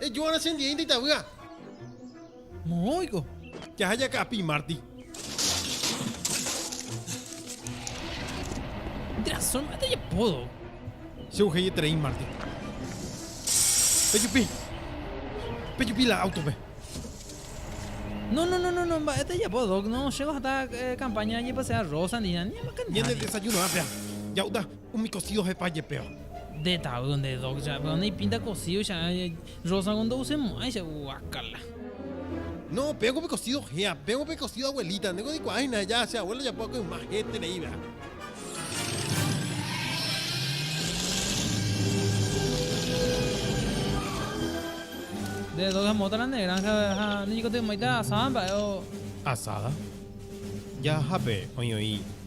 Ejoarã che ndiéinte itavýa. Moõiko. Jaha jaka'api Marty. Transforma de apodo. Che uhei eterei Marty. Pejupi. Pejupi la autope. No, no, no, no, no, mba'e tejapo, Doc. No, chégo hata eh, campaña ñepasea rosa ni nada. Ni Ñande desayuno ápea. Ja'uta. Umi kosío ohepa jepéva. Nde tavýo, nde Doc cha'e péva neipínta kosío cha'e. Rosa kónde osemo'ãicha. Guákala. No, péva ko pe kosío héa. Péva ko pe kosío abuelita. Nde ko reikuaa hína aja che abuelo ojapo va'ekue yma héterei va'erã. Nde Doc amóta la ne granja ha neñekotymo'ãita asada mba'e o. Asada? Jahápe oĩ oĩ.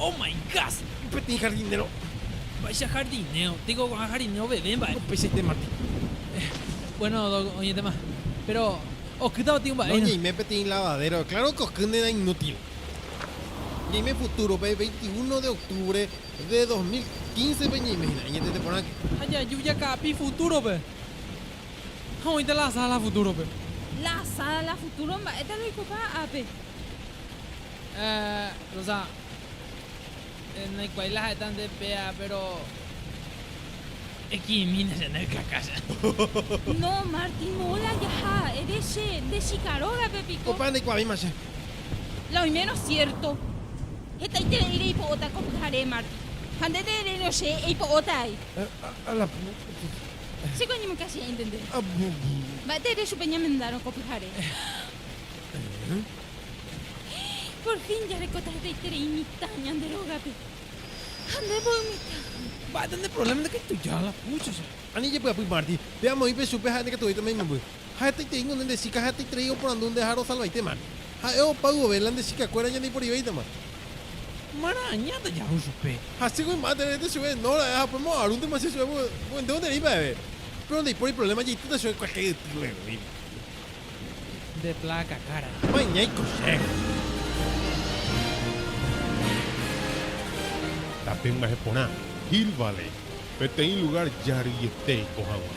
Oh my God! Un peteĩ jardinero. Mba'éicha jardinero, teko ko'ã jardinero veve mba'e. Upeichaite mati. Bueno, oñetéma. Péro okýta gotyo mba'e. Noñeime peteĩ lavadéro. Kláro ke okýnte na inútil. Ñaime futúrope, 21 de octubre. De dos mil quincepe ñaime hína añetete porãke. Ha jaju jaka'api futúrope. Ha oĩta la asada la futúrope. La asada la futúro mba'éta roikopa ápe. Eeh, Rosa, naikuaái la ha'éta nde péa, péro. Eki'imína che ne kaka che. No, Martín, moõla jaha. Ere che, nde chika rógape piko. Opa ndaikuaavima che. La oimérõ siérto. Hetaiterei reipo'óta ko pyhare, Martín. Ha nde nde'eréirõ che eipo'óta ai. A la pucha. Che ko añemoĩka che entender. Mba'éte ere chupe ñamendárõ ko pyhare. Por fin jarekóta hetaiterei mitã ñande rógape. Ha nde voi mitãha. Mba'éta nde provléma ndekaitujáva la púchose. Ani jepy'apy Marty, pe amoĩpe chupe ha'e ndekatuvéi tomaimomby. Ha hetaiterei ñande nde chíka ha hetaiterei oporandu nde ha rosalvaite Marty. Ha'e opa yvove la nde chíka kuéra ñandeiporíveitama. Mara'añáta jahu chupe. Ha che gui mba'e tererete chupe, no ra'e ha upémo arúntema che chupe, porque ndévo nde rei mba'eve. Péro ndaipóri provléma jaitýta chupe kuete yty guegui. Nde pláka kára. Ma'e ñaiko chéve. Tape mba'e porã, Hill Valley, peteĩ lugár jaryete eiko haguã.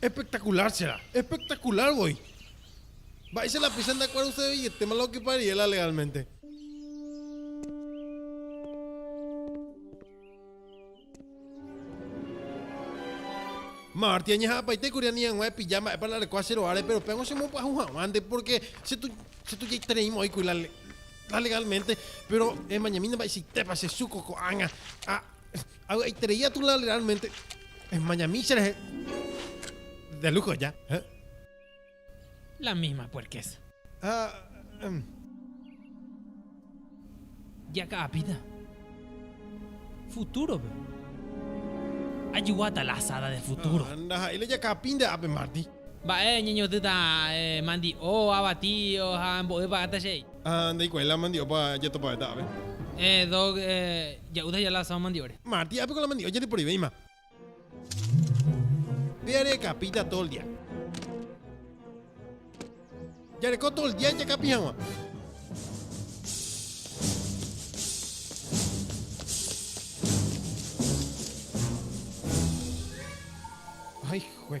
Espectacular che rã. Espectacular voi. Mba'éicha la péicha ndakuaruseveietéma la okipa Riela legalmente. Marty, añeha'ãpaite kuri ani hag̃ua epilla mba'épa la reko ache ro'áre, péro péago chemopy'aju hag̃uánte, pórke che, che tujaitereíma oĩ kuri la, la legalmente, péro emañamína mba'eichaitépa che Zucco ko'ág̃a. Ha. Avy'aiterei atulã realmente esmañami cherehe de lujo ya. ¿Eh? La misma puerquez. Ah, um. Jaka'apíta. Futurope. Ajuguáta la asada de futuro. Ah, ndaha'éi la jaka'apínte ápe, Marty. Mba'e ñañotỹta mandi'o, avati ha mbo'e pagata che réi. Ha ndaikuaái la mandi'opa jatopavéta ápe. Doc ja'u daja la asado mandi'ore. Marty ápe ko la mandi'o jareporevéima. Péa re'ekapíta todo el día. Jareko todo el día jakapi hag̃ua. Hay jue.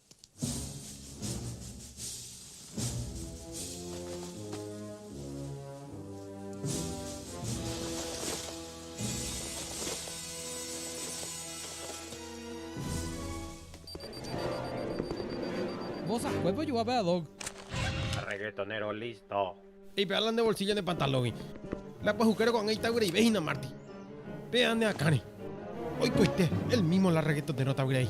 Vosahue pojua pe Adoc. Reggaetonero listo. Ipe'ála nde bolsillo ne pantalógui. La pahukero ko'ág̃a itavyreive hína Marty. Pe'a ne akãre. Oikoite, él mismo la reggaetonero tavyrai.